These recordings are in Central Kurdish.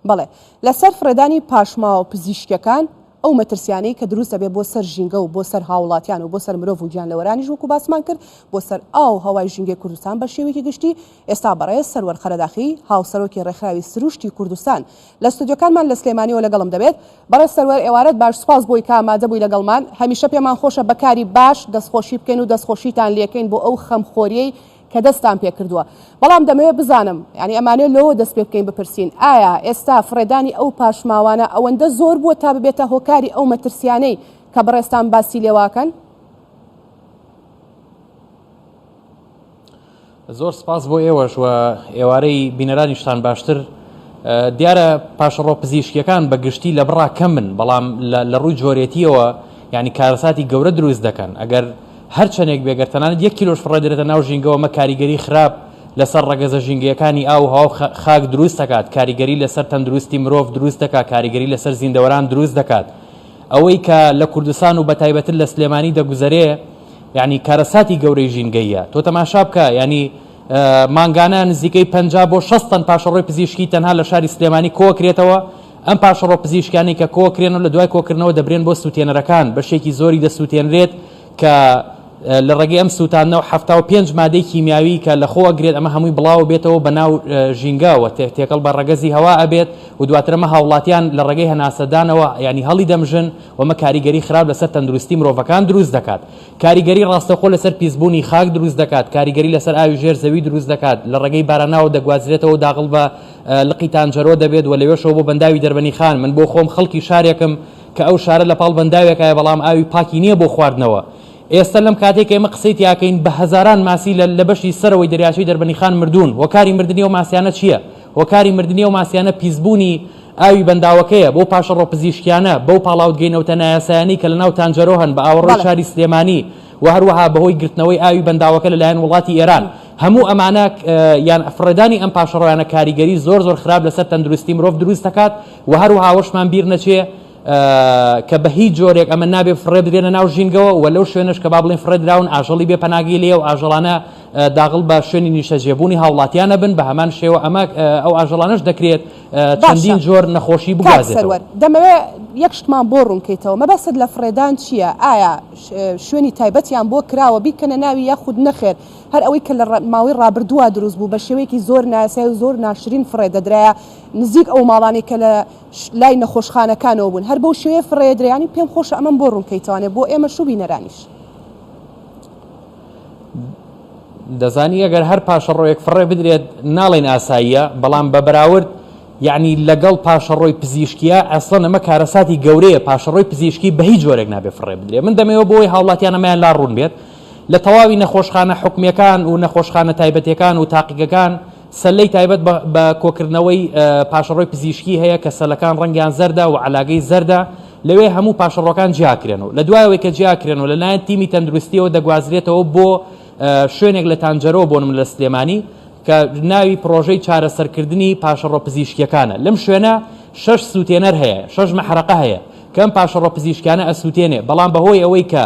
بەڵێ لەسەر فڕێدانی پاشماوە پزیشکیەکان ئەو مەترسیانەی کە دروست دەبێت بۆ سەر ژینگە و بۆ سەر هاوڵاتیان و بۆ سەر مرۆڤ و گیانلەوەرانیش وەکو باسمان کرد بۆ سەر ئاو هەوای ژینگەی کوردستان بە شێوەیەکی گشتی ئێستا بەڕێز سەروەر قەرەداخی هاوسەرۆکی ڕێکخراوی سروشتی کوردستان لە ستۆدیۆکانمان لە سلێمانیەوە لەگەڵم دەبێت بەڕێز سەروەر ئێوارەت باش سوپاس بۆی کە ئامادە بووی لەگەڵمان هەمیشە پێمان خۆشە بەکاری باش دەستخۆشی بکەین و دەستخۆشیتان لێکەین بۆ ئەو خەمخۆریەی کە دەستان پێکردووە، بەڵام دەمەوێت بزانم، یانی ئەمانەوێت لەوەوە دەست پێ بکەین بپرسین، ئایا ئێستا فڕێدانی ئەو پاشماوانە ئەوەندە زۆر بووە تا ببێتە هۆکاری ئەو مەترسیانەی کە بەڕێزتان باسی لێواکەن؟ زۆر سپاس بۆ ئێوەش و ئێوارەی بینەرانیشتان باشتر دیارە پاشەڕۆ پزیشکیەکان بە گشتی لە بڕا کەمن بەڵام لە ڕووی جۆرێتیەوە ینی کارەساتی گەورە دروست دەکەن ئەگەر هەر چەندێک بێ گەر تەنانەت یەک کیلۆش فڕێدرێتە ناو ژینگەوە ئەمە کاریگەری خراپ لەسەر ڕەگەزە ژینگەیەکانی ئاو و هەوا و خاک دروست دەکات، کاریگەری لەسەر تەندروستی مرۆڤ دروست دەکات، کاریگەری لەسەر زیندەوەران دروست دەکات. ئەوەی کە لە کوردستان و بەتایبەتر لە سلێمانی دەگوزەرێ یانی کارەساتی گەورەی ژینگەییە. تۆ تەماشا بکە یانی مانگانە نزیکەی پەنجا بۆ شەست تەن پاشەڕۆی پزیشکی تەنها لە شاری سلێمانی کۆکرێتەوە ئەم پاشەڕۆ پزیشکانەی کە کۆکرێن و لە دوای کۆکردنەوە دەبرێن بۆ سووتێنەرەکان بەشێکی زۆری دەسووتێنرێت کە لە ڕێگەی ئەم سووتاندنەوە حەفتا و پێنج مادەی کیمیاوی کە لە خۆ ئەگرێت ئەمە هەمووی بڵاوە بێتەوە بە ناو ژینگەوە تێکەڵ بە ڕەگەزی هەوا ئەبێت و دواترەمە هاوڵاتیان لە ڕێگەی هەناسەدانەوە ینی هەڵی دەمژن ومە کاریگەری خراپ لەسەر تەندروستی مرۆڤەکان دروست دەکات کاریگەری ڕاستەخۆ لەسەر پیسبوونی خاک دروست دەکات کاریگەری لەسەر ئاوی ژێر زەوی دروست دەکات لە ڕێگەی باراناوە دەگوازرێتەوە داغڵ بە لقی تانجەرۆ دەبێت و لەوێشەوە بۆ بەنداوی دەربەنی خان من بۆ خۆم خەڵکی شارێکم کە ئەو شارە لە پاڵ بەنداوێکایە بەڵام ئاوی پاکی نییە بۆ خواردنەوە ئێستا لەم کاتێک ئێمە قسەی تیاکەین بە هەزاران ماسی لە لە بەشی سەرەوەی دەریاچەی دەربەنی خان مردوون هۆکاری مردنی و ماسیانە چییە هۆکاری مردنی و ماسیانە پیسبوونی ئاوی بەنداوەکەیە بۆ پاشەڕۆ پزیشکیانە بەو پاڵاوتگەی نەوتە نایاسایانی کە لە ناو تانجەرۆ هەن بە ئاوەڕۆی شاری سلێمانی و هەروەها بەهۆی گرتنەوەی ئاوی بەنداوەکە لەلایەن وڵاتی ئێران هەموو ئەمانە یان فڕێدانی ئەم پاشەڕۆیانە کاریگەری زۆر زۆر خراپ لەسەر تەندروستی مرۆڤ دروست دەکات و هەروەها وەشمان بیر نەچێ کە بە هیچ جۆرێک ئەمە نابێ فڕێ بدرێنە ناو ژینگەوە و لەو شوێنش کە با بڵین فڕێدراون ئاژەڵی بێ پەناگی لێ و ئاژەڵانە داغڵ بە شوێنی نیشتەجێبوونی هاوڵاتیانە بن بە هەمان شێوە ئەمە ئەو ئاژەڵانش دەکرێت چەندین جۆر نەخۆشی بگازێتەوە دەمەوێ یەک شتمان بۆ ڕوونکەیتەوە مەبەست لە فڕێدان چییە ئایا شوێنی تایبەتیان بۆ کراوە بیکەنە ناوی یاخود نەخێر هەر ئەوەی کە لە ماوەی ڕابردووە دروست بوو بە شێوەیەکی زۆر نایاسایی و زۆر ناشرین فڕێ دەدرایە نزیک ئەو ماڵانەی کە لە لای نەخۆشخانەکانەوە بوون هەر بەو شێوەیە فڕێ ئەدرێیانی و پێم خۆشە ئەمەم بۆ ڕوون کەیتەوانێ بۆ ئێمەش و بینەرانیش. دەزانی ئەگەر هەر پاشەڕۆیەک فڕێ بدرێت ناڵێن ئاساییە بەڵام بە بەراورد یعنی لەگەڵ پاشەڕۆی پزیشکیە ئەسڵەن ئەمە کارەساتی گەورەیە پاشەڕۆی پزیشکی بە هیچ جۆرێک نابێ فڕێ بدرێ من دەمەوە بۆی هاوڵاتیانەمایان لا ڕوون بێت لە تەواوی نەخۆشخانە حکومیەکان و نەخۆشخانە تایبەتیەکان و تاقیگەکان سەلەی تایبەت بە کۆکردنەوەی پاشەڕۆی پزیشکی هەیە کە سەلەکان ڕەنگیان زەردە و عەلاگەی زەردە لەوێ هەموو پاشەڕۆکان جیاکرێن و لە دوایەوەی کە جیاکرێن و لەلایەن تیمی تەندروستیەوە دەگوازرێتەوە بۆ شوێنێک لە تانجەرۆ بۆ نمونە لە سلێمانی کە ناوی پڕۆژەی چارەسەرکردنی پاشەڕۆ پزیشکیەکانە لەم شوێنە شەش سووتێنەر هەیە شەش مەحرەقە هەیە کەم پاشەڕۆ پزیشکانە ئەسووتێنێ بەڵام بەهۆی ئەوەی کە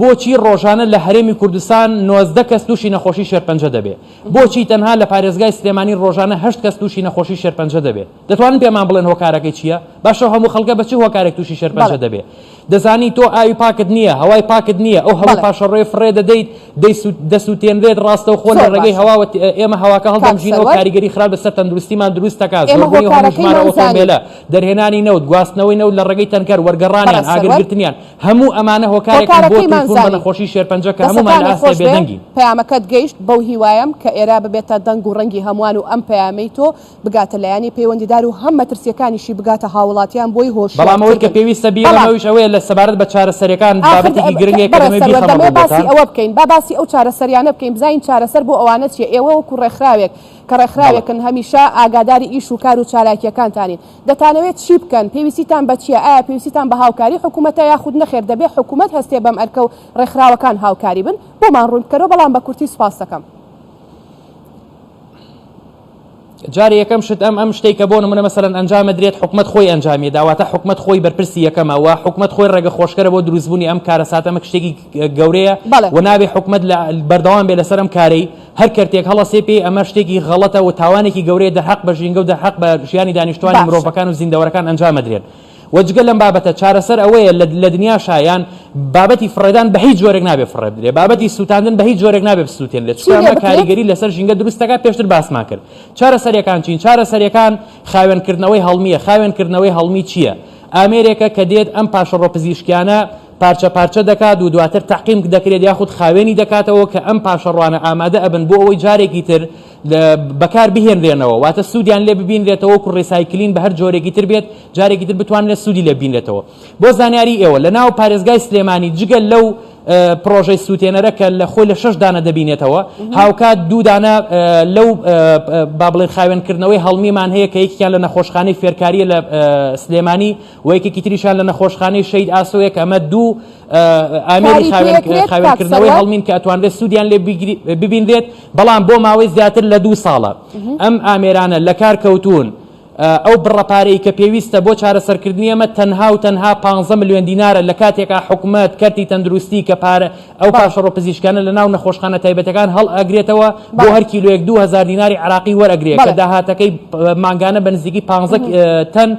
بۆچی ڕۆژانە لە هەرێمی کوردستان نۆزدە کەس تووشی نەخۆشی شێرپەنجە دەبێ؟ بۆچی تەنها لە پارێزگای سلێمانی ڕۆژانە هەشت کەس تووشی نەخۆشی شێرپەنجە دەبێ؟ دەتوانن پێمان بڵێن هۆکارەکەی چییە؟ باشە ئەو هەموو خەڵکە بە چ هۆکارێک تووشی شێرپەنجە بەڵێ. دەبێ؟ دەزانی تۆ ئاوی پاکت نییە، هەوای پاکت نییە، ئەو هەموو بەڵێ. پاشەڕۆیە فڕێ دەدەیت، دەیسو دەسووتێنرێت، ڕاستەوخۆ لە زۆر ڕێگەی باشە. هەواوە ت ئێمە هەواکە کاک هەڵدەمژینەوە، سەروەر. کاریگەری خراپ لەسەر تەندروستیمان دروست دەکات، ئێمە زۆربوونی هەموو ژمارە هۆکارەکەیمان زانی. ئۆتۆمبێلە، دەرهێنانی نەوت، گواستنەوەی نەوت لە ڕێگەی تەنکەر، وەرگەڕانیان، بەڕێز سەروەر. ئاگرگرتنیان، هەموو ئەمانە هۆکارێکن بۆ تووشبوون بە نەخۆشی شێرپەنجە کە هەموومان لە ئاستێ بێدەنگین. پەیامەکەت گەیشت، بەو هیوایەم کە ئێرە ببێتە دەنگ و ڕەنگی هەمووان و ئەم پەیامەی تۆ بگاتە لایەنی پەیوەندیدار و هەم مەترسییەکانیشی بگاتە هاووڵاتیان بۆی هۆشیار کردن. بەڵام ئەوەی کە پێویستە بیڵێم ئەویش ئەوەیە لە سەبارەت بە چارەسەرییەکان بابەتێکی گرنگە کە دەمەوێت بیخەمە ڕووی بۆتان. با باسی ئەو چارەسەرییانە بکەین بزانین چارەسەر بۆ ئەوانە چییە؟ ئێوە وەکوو ڕێکخراوێک کە ڕێکخراوێکن هەمیشە ئاگاداری ئیش و کار و چالاکییەکانتانین، دەتانەوێت چی بکەن؟ پێویستیتان بە چییە؟ ئایا پێویستیتان بە هاوکاری حکومەتە یاخود نەخێر دەبێت حکومەت هەستێت بەم ئەرکە و ڕێکخراوەکان هاوکاری بن؟ بۆمان ڕوون بکەرەوە بەڵام بە کورتی سوپاست دەکەم. جاری یەکەم شت ئەم ئەم شتێک کە بۆ نمونە مەسەرەن ئەنجام درێت حکومت خۆی ئەنجامی داواتە حکومت خۆی بەرپرسی یەکەمە و حکومت خۆی ڕێگە خۆشکەرە بۆ دروستبوونی ئەم کارە ساتەمە شتێکی گەورەیە و نابێ حکومت لە بەردەوام بێ لەسەر ئەم کارەی هەر کەرتێک هەڵەسێ پێی ئەمە شتێکی غەڵەتە و تاوانێکی گەورەیە دەرحەق بە ژینگە و دەرحەق بە ژیانی دانیشتوانی باشە. مرۆڤەکان و زیندەوەرەکان ئەنجام ئەدرێن و جگە لەم بابەتە چارەسەر ئەوەیە لە لە دنیاشا یان بابەتی فڕێدان بە هیچ جۆرێک نابێ فڕێ بدرێ بابەتی سووتاندن بە هیچ جۆرێک نابێ بسووتێنرێ چی چونکە لێ ئەمە بکرێت؟ کاریگەری لەسەر ژینگە دروست دەکات پێشتر باسمان کرد چارەسەریەکان چین چارەسەریەکان خاوێنکردنەوەی هەڵمییە خاوێنکردنەوەی هەڵمی چییە؟ ئامێرێکە کە دێت ئەم پاشەڕۆ پزیشکیانە پارچە پارچە دەکات و دواتر تەعقیم دەکرێت یاخود خاوێنی دەکاتەوە کە ئەم پاشەڕوانە ئامادە ئەبن بۆ ئەوەی جارێکی تر بەکار بهێنرێنەوە واتە سوودیان لێ ببینرێتەوە و ڕیسایکلین بە هەر جۆرێکی تر بێت جارێکی تر بتوانێت سوودی لێ بینرێتەوە بۆ زانیاری ئێوە لە ناو پارێزگای سلێمانی جگە لەو پرۆژەی سووتێنەرە کە لە خۆی لە شش دانە دەبینێتەوە هاوکات دوو دانە لەو با بڵێن خاوێنکردنەوەی هەڵمیمان هەیە کە یەکیان لە نەخۆشخانەی فێرکاریە لە سلێمانی و یەکێکی تریشان لە نەخۆشخانەی شەید ئاسۆیە کە ئەمە دوو ئامێری خاوێنکردنەوەی هەڵمین کە ئەتوانرێت سوودیان لێ ببینرێت بەڵام بۆ ماوەی زیاتر لە دوو ساڵە ئەم ئامێرانە لە کار کەوتون ئەو بڕەپارەی کە پێویستە بۆ چارەسەرکردنی ئەمە تەنها و تەنها 15 میلیۆن دینارە لە کاتێکا حکومت کەرتی تەندروستی کە پارە ئەو پاشەڕۆ پزیشکانە لە ناو نەخۆشخانە تایبەتەکان هەڵ ئەگرێتەوە بۆ هەر کیلوێک 2000 دیناری عراقی وەرەگرێت کە داهاتەکەی مانگانە بە نزیکی 15 تەن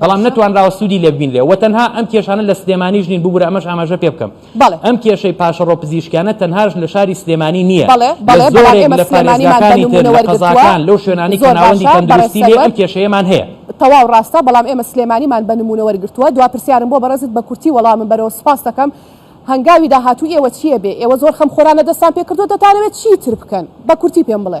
بەڵام نەتوانراوە سوودی لێ ببینرێ و تەنها ئەم کێشانە لە سلێمانیش نین ببوورە ئەمەش ئاماژە پێ بکەم ئەم کێشەی پاشەڕۆ پزیشکیانە تەنهاش لە شاری سلێمانی نییە قەزاکان لەو شوێنانی کە ناوەندی تەندروستی لێ ئەم کێشەیەمان هەیە تەواو ڕاستە بەڵام ئێمە سلێمانیمان بە نمونە وەرگتووە دو پرسیارم بۆ بەڕێزت بە کورتی وەڵامم بەرەوە سپاس دەکەم هەنگاوی داهاتوو ئێوە چییە بێ ئێوە زۆر خەم خۆرانە دەستان پێکردو دەتانەوێت چی تر بکەن بە کورتی پێم بڵێ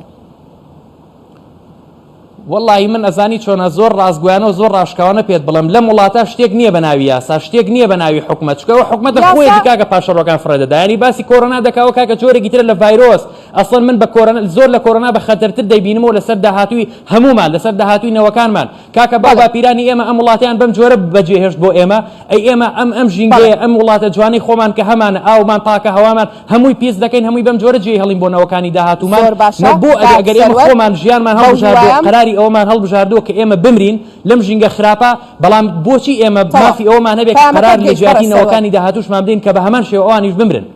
وەڵاهی من ئەزانی چۆنە زۆر ڕاستگۆیانە و زۆر ڕاشکاوانە پێت بڵێم لەم وڵاتە شتێک نییە بە ناوی یاسا شتێک نییە بە ناوی حکومەت چکە ئەو حکومەتە یاسا- خۆیەتی کاکە پاشەڕۆکان فڕێدەدا ینی باسی کۆرۆنا دەکا و کاکە جۆرێکی ترە لە ڤایرۆس ئەسڵەن من بە کۆرۆنا زۆر لە کۆرۆنا بە خەتەرتر دەیبینمەوە لەسەر داهاتووی هەموومان لەسەر داهاتووی نەوەکانمان کاکە باو بەڵێ باپیرانی ئێمە ئەم وڵاتیان بەم جۆرە بەجێهێشت بۆ ئێمە ئەی ئێمە ئەم ئەم ژینگەیە بەڵێ ئەم وڵاتە جوانەی خۆمان کە هەمانە ئاومان پاکە هەوامان هەمووی پیس دەکەین هەمووی بەم جۆرە جێی هەڵین بۆ نەوەکانی داهاتومان زۆر باشە نە بۆ ئەگە کاک ئەگەر ئێمە سەروەر خۆمان ژیانمان بەو هەڵبژاردووە هیوایەم قەراری ئەوەمان هەڵبژاردووە کە ئێمە بمرین لەم ژینگە خراپە بەڵام بۆچی ئێمە تەواو مافی ئەوەمان هەبێت کە قەرار پەیامەکەت لە گەیشت بەڕێز جیاتی سەروەر نەوەکانی داهاتووشمان بدەین کە بە هەمان شێوە ئەوانیش بمرن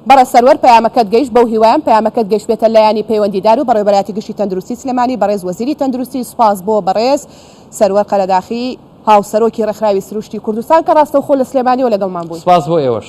بەڕێز سەروەر پەیامەکەت گەیشت بەو هیوایەم پەیامەکەت گەیشتبێتە لایەنی پەیوەندیدار و بەڕێوەبەرایەتی گشتی تەندروستی سلێمانی بەڕێز وەزیری تەندروستی سوپاس بۆ بەڕێز سەروەر قەرەداخی هاوسەرۆکی ڕێکخراوی سروشتی کوردستان کە ڕاستەوخۆ لە سلێمانیەوە لەگەڵمان بووی. سوپاس بۆ ئێوەش.